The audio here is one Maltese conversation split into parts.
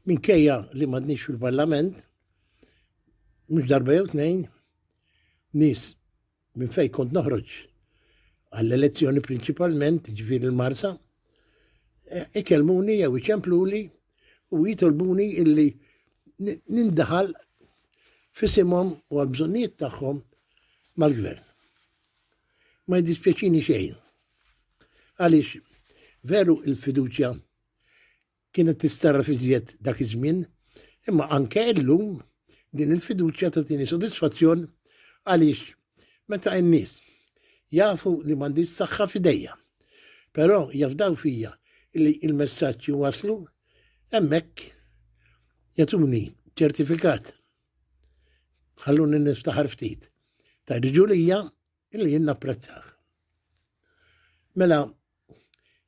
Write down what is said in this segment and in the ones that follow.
Minkejja li m'għadniex fil-Parlament, mhux darba jew tnejn, nies minn fejn kont noħroġ għall-elezzjoni prinċipalment, ġifieri l-Marsa, e, ikellmuni jew iċempluli u jitolbuni illi nindaħal fisimhom u għal-bżonnijiet tagħhom mal-gvern. Ma jiddispjaċini xejn. Għaliex veru il-fiduċja Kienet tistgħarraf iżjed dak iż-żmien, imma anke illum din il-fiduċja tagħtini sodisfazzjon għaliex meta n-nies jafu li m'għandix saħħa f'idejja, però jafdaw fija li l-messaġġ iwasslu, hemmhekk jagħtuni ċertifikat. Ħalluni niftaħar ftit. Tgħiġġu lija Illi jien napprezzah. Mela,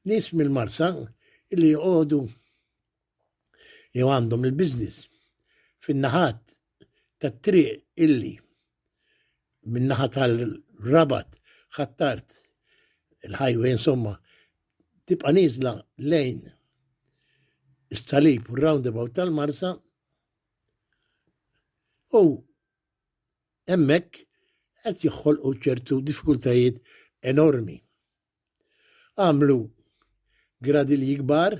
nies mill-Marsa illi joqogħdu jew għandhom il-business fin-naħat tat-triq illi min-naħa tal-Rabat ħattart il-highway insomma tibqa' nieżla lejn is-salib u roundabout tal-Marsa u Hemmhekk qed joħolqu ċertu diffikultajiet enormi. Għamlu gradilji kbar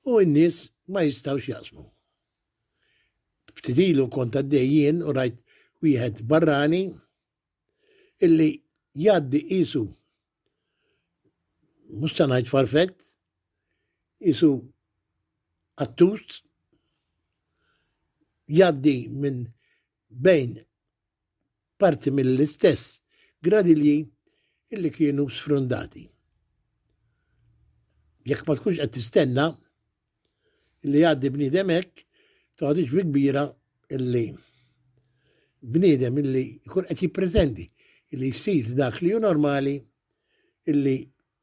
u n-nies ma jistgħux jaqsmu. Ftit ilu kont għaddej jien u rajt wieħed barrani illi jgħaddi qisu mhux se ngħid farfett, qisu attust jgħaddi minn bejn parti mill-istess gradilji illi kienu sfrundati. Jekk ma tkunx qed tistenna, li jgħaddi bniedem hekk toħodix bi kbira li bniedem illi jkun qed jippretendi li jsir dak li hu normali illi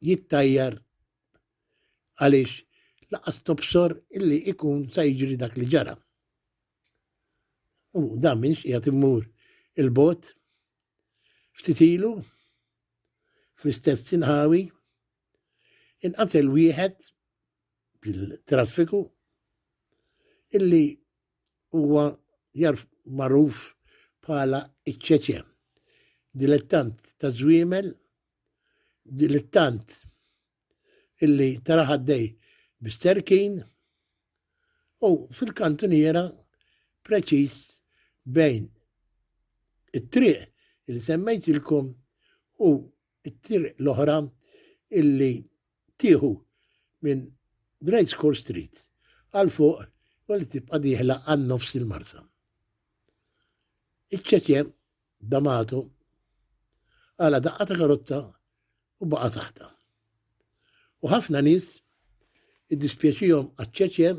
jittajjar għaliex laqas tobsor illi ikun sa jiġri dak li ġara. U dan minx qiegħed immur il-bot ftit ilu fl-istess sinħawi inqatel wieħed bil-traffiku illi huwa jarf magħruf bħala iċ-ċeċe. Dilettant ta' żwiemel, dilettant illi tara ħaddej bis-serkin u fil-kantuniera preċiż bejn it-triq li semmejtilkom u it-triq l-oħra illi Tieħu minn Great Score Street għal fuq u li tibqa' dieħla għal nofs il-Marsa. Iċ-ċeċe D'Amato għala daqqa ta' karozza u baqa' taħta. U ħafna nies iddispjaċihom għaċ-ċeċe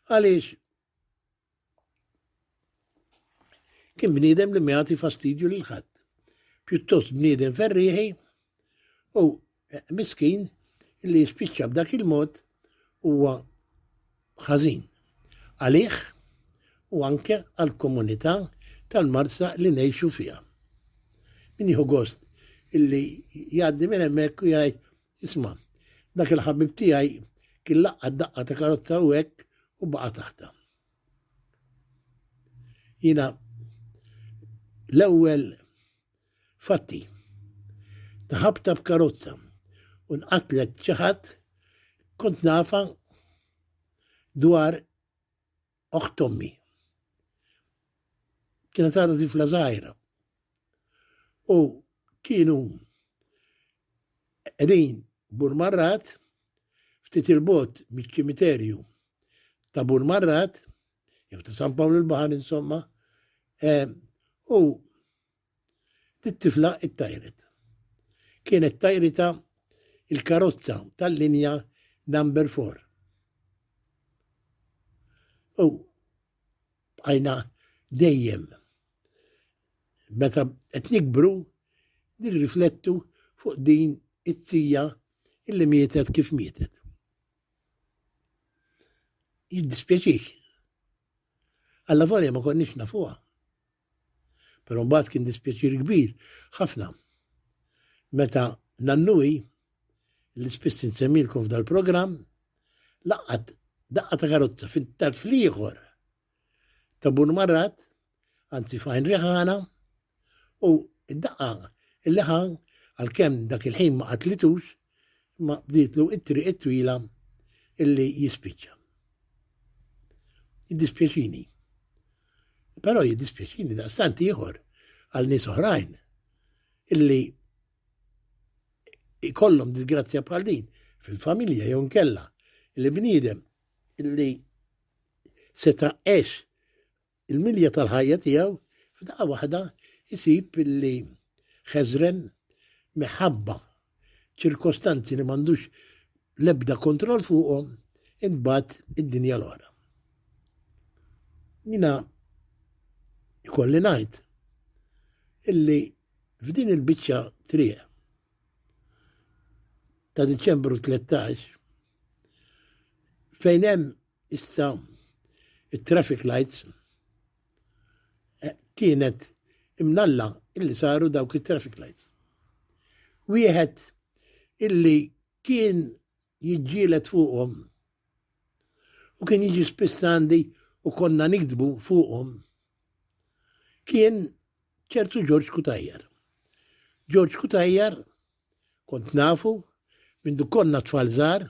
għaliex Kien bniedem li miegħati fastidju lil ħadd. Pjuttost bniedem ferrieħi u eh, miskin li jispiċċa b'dak il-mod huwa ħażin. Għalih u anke għall-komunità tal-marsa li ngħixu fiha. Min jieħu gost illi jgħaddi minn hemmhekk u jgħid Isma', dak il-ħabib tiegħi kien laqqa' daqqa ta' karozza u hekk u baqa' taħtha. Jiena l-ewwel fatti ta' ħabta b'karozza u nqatlet xi ħadd kont nafa dwar Oħt ommi. Kienet għadha tifla żgħira. U kienu qegħdin Burmarrat ftit il-bot miċ-ċimiterju ta' Burmarrat jew ta' San Pawl il-Baħar insomma, eh, u It-tifla ttajret. Kienet tajritha l-karozza tal-linja Number Four. U bqajna dejjem meta qed nikbru nirriflettu fuq din it-tija illi mietet kif mietet. Jiddispjaċik. Alla volja ma konniex nafuha. Però mbagħad kien dispjaċir kbir ħafna meta Nannui, li spiss insemmilkom f'dal-programm, laqgħet daqqa ta' karozza fit-tarf l-ieħor ta' Bun Marrat, anzi f'Għajn Riħana, u id-daqqa il-leħa għal-kem dak il-ħin ma qatlitux, imma bdietlu it-triq it-twila illi jispiċċa. Jiddispjaċini. Però jiddispjaċini daqstant ieħor għal nies oħrajn illi ikollhom disgrazzja bħal din fil-familja jew nkella li bniedem illi seta' għex Il-milja tal-ħajja tiegħu f'daqqa waħda jsib li ħeżren minħabba ċirkostanzi li m'għandux l-ebda kontroll fuqhom intbagħat id-dinja l-oħra. Jiena jkolli ngħid illi f'din il-biċċa triq ta' Diċembru 13 fejn hemm Issa, it-traffic lights kienet imnalla illi saru dawk it-traffic lights. Wieħed illi kien jiġġielet fuqhom u kien jiġi spiss għandi u konna nikdbu fuqhom kien ċertu Ġorġ Kutajjar. Ġorġ Kutajjar kont nafu minn konna tfal żgħar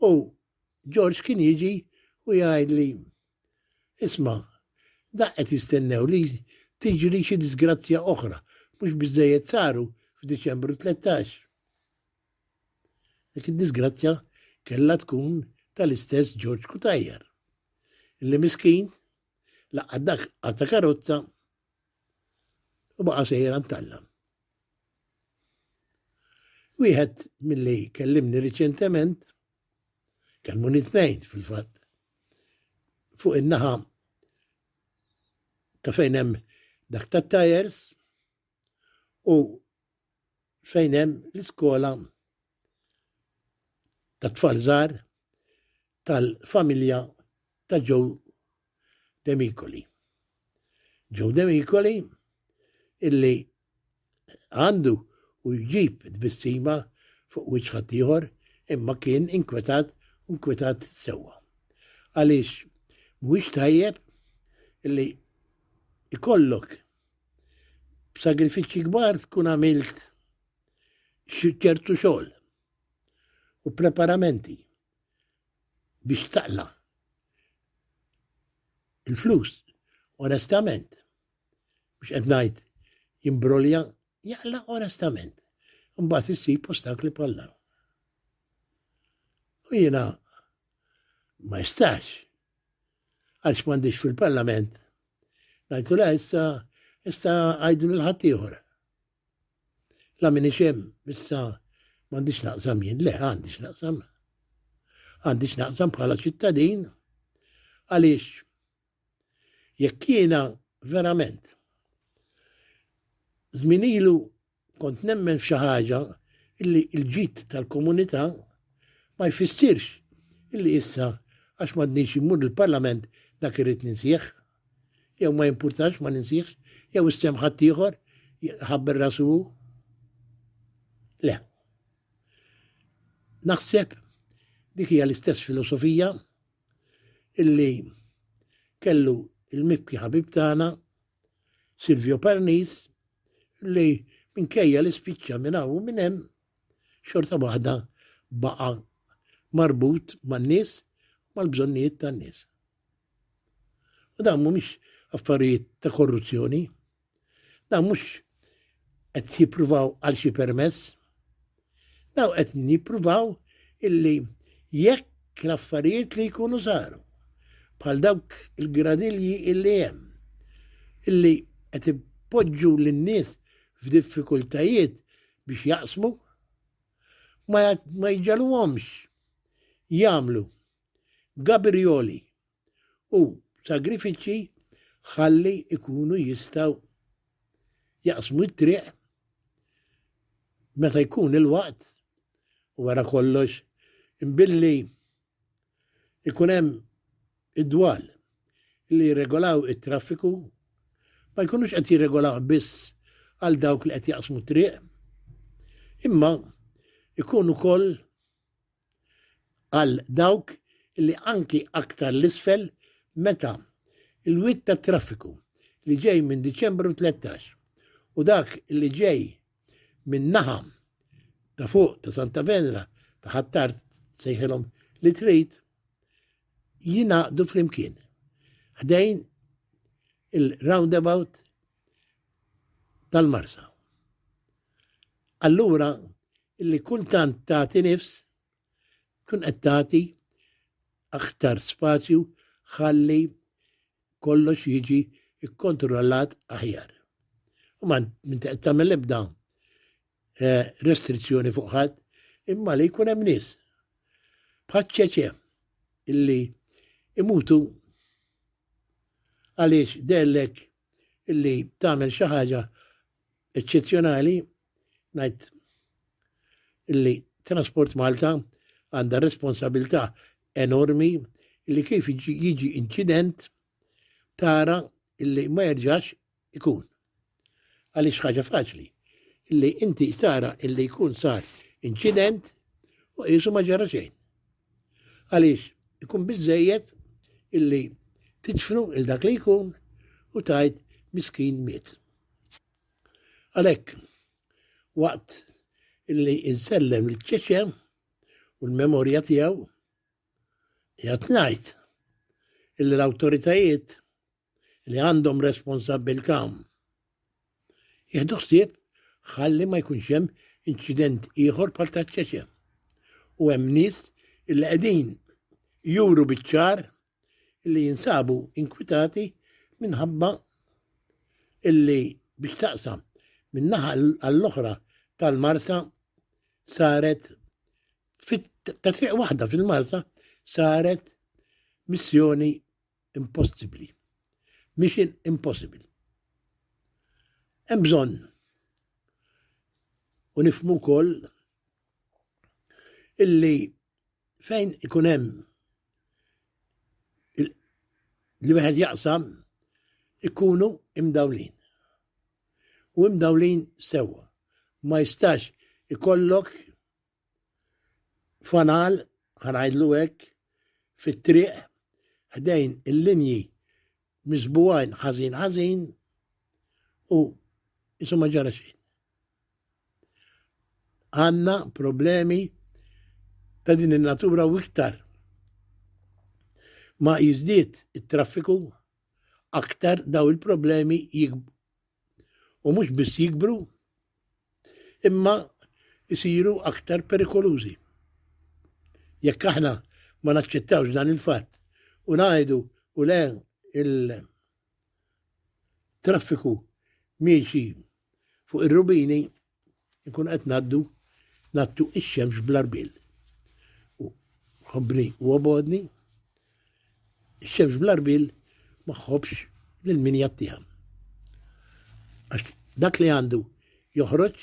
u George kien jiġi u jgħidli, Isma', daqq qed jistennew li tiġri xi diżgrazzja oħra, mhux biżżejjed saru f'Diċembru tlettax. Dik id-diżgrazzja kellha tkun tal-istess George Cutajar, illi miskin laqqa' dak għata karozza u baqa' sejjer għand Alla. Wieħed milli kellimni riċentement, kelmu nitnejn fil-fatt, fuq in-naħa ta' fejn hemm dak ta' tajers u fejn hemm l-iskola ta' tfalżar tal-familja ta' ġew Demicoli. Joe Demicoli illi għandu u jġib tbissima fuq wiċħa tiħor imma kien inkwetat u inkwetat sewa. Għaliex mhuwiex tajjeb illi ikollok b'sagrifiċċji kbar tkun għamilt ċertu xogħol u preparamenti biex taqla il-flus. Onestament, biex qed ngħid jimbrolja jaqla onestament. Mbagħad issib ostakli bħal U jiena ma jistax għalx m'għandix fil-Parlament ngħidu la issa issa għajdu l-ħaddieħor. La minix hemm, issa m'għandix naqsam jien, le għandix naqsam. Għandix naqsam bħala ċittadin għaliex jekk jiena verament żmien ilu kont nemmen f'xi ħaġa illi l-ġid tal-komunità ma jfissirx illi issa għax m'għadniex immur il-Parlament dak irid ninsieħ. jew ma jimpurtax, ma ninsihx, jew issemm ħaddieħor ħabber rasu hu. Le. Naħseb dik hija l-istess filosofija illi kellu il-mibki ħabib tagħna Silvio Parnis li minkejja li spiċċa minn hawn minn hemm xorta waħda baqa' marbut man-nies mal-bżonnijiet tan-nies. U dawn mhumiex affarijiet ta' korruzzjoni. Dawn mhux qed jippruvaw għal xi permess. Dawn qed jippruvaw illi jekk l-affarijiet li jkunu saru bħal dawk il-gradilji illi hemm illi qed ipoġġu lin-nies f'diffikultajiet biex jaqsmu ma jġalhomx jagħmlu Gabrijoli u sagrifiċċji ħalli jkunu jistgħu jaqsmu t-triq meta jkun il-waqt u wara kollox billi ikun hemm id-dwal li jirregolaw it-traffiku ma jkunux qed jirregolaw biss għal dawk li qed jaqsmu triq imma ikun ukoll għal dawk li anki aktar 'l isfel meta l-wied tat-traffiku li ġej minn Diċembru tlettax u dak li ġej min-naħa ta' fuq ta' Santa Venera ta' Ħ'Attard sejħilhom li trid jingħaqdu flimkien ħdejn il-roundabout tal-marsa. Allura li kultant tagħti nifs tkun qed tagħti aktar spazju ħalli kollox jiġi kkontrollat aħjar. U ma minn tagħmel ebda eh, restrizzjoni fuq ħadd imma li jkun hemm nies bħaċċeċe illi imutu għaliex dellek illi tagħmel xi ħaġa eċċezzjonali ngħid illi Transport Malta għandha responsabilità enormi illi kif jiġi inċident tara illi ma jerġax ikun. Għaliex ħaġa faċli illi inti tara illi jkun sar inċident u qisu ma ġara xejn. Għaliex, ikun biżżejjed illi tidfnu lil dak li jkun u tgħid miskin miet. Għalhekk, waqt illi insellem lil ċeċe u l-memorja tiegħu, qiegħed ngħid illi l-awtoritajiet li għandhom responsabbiltà jieħdu ħsieb ħalli ma jkunx hemm inċident ieħor bħal ta' ċeċe. U hemm nies li qegħdin juru biċ-ċar li jinsabu inkwitati minħabba illi biex taqsam minn naħa għall-oħra tal-Marsa saret ta' triq waħda fil-Marsa saret missjoni Impossibbli. Mission impossible. Hemm bżonn u nifmu wkoll illi fejn ikun hemm li wieħed jaqsam ikunu imdawlin. U imdawlin sewwa. Ma jistax ikollok fanal, ħa ngħidlu hekk, fit-triq ħdejn il-linji miżbugħin ħażin ħażin u isu ma ġara xejn. Għandna problemi ta' din in-natura u iktar ma jiżdied it-traffiku aktar daw il-problemi u mhux biss jikbru imma jsiru aktar perikolużi. Jekk aħna ma naċċettawx dan il-fatt u ngħidu u le il-traffiku miexi fuq ir-rubini Inkunu qed ngħaddu nattu x-xemx bl-arbil. U ħobbni u obodni, x-xemx bl-arbil ma ħobbx lil min jattiha. Għax dak li għandu joħroġ,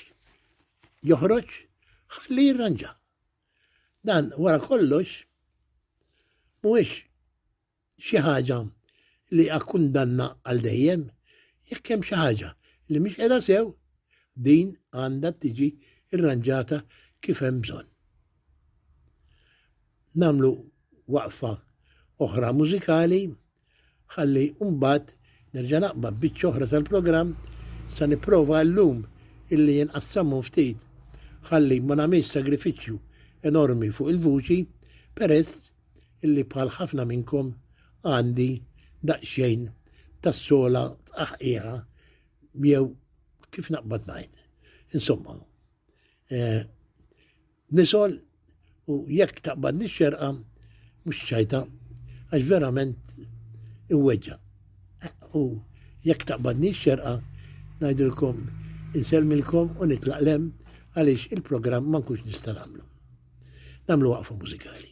joħroġ ħalli jirranġa. Dan wara kollox mhuwiex xi ħaġa li hija kundanna għal dejjem, jekk hemm xi ħaġa li mhix qiegħda sew, din għandha tiġi rranġata kif hemm bżonn. Nagħmlu waqfa oħra mużikali ħalli mbagħad nerġa' naqbad biċċa oħra tal-programm sa nipprova llum illi jinqassamu ftit ħalli ma nagħmilx sagrifiċċju enormi fuq il-vuċi peress illi bħal ħafna minnkom għandi daqsxejn tas-sola tqaħqiegħa jew kif naqbad ngħid. Insomma, eh, nisol u jekk taqbad nix-xerqa mhux ċajta għax verament iweġġa. U jekk taqbad nix-xerqa ngħidilkom inselmilkom u nitlaqlem għaliex il-programm ma nkunx nista' nagħmlu. Nagħmlu waqfa mużikali.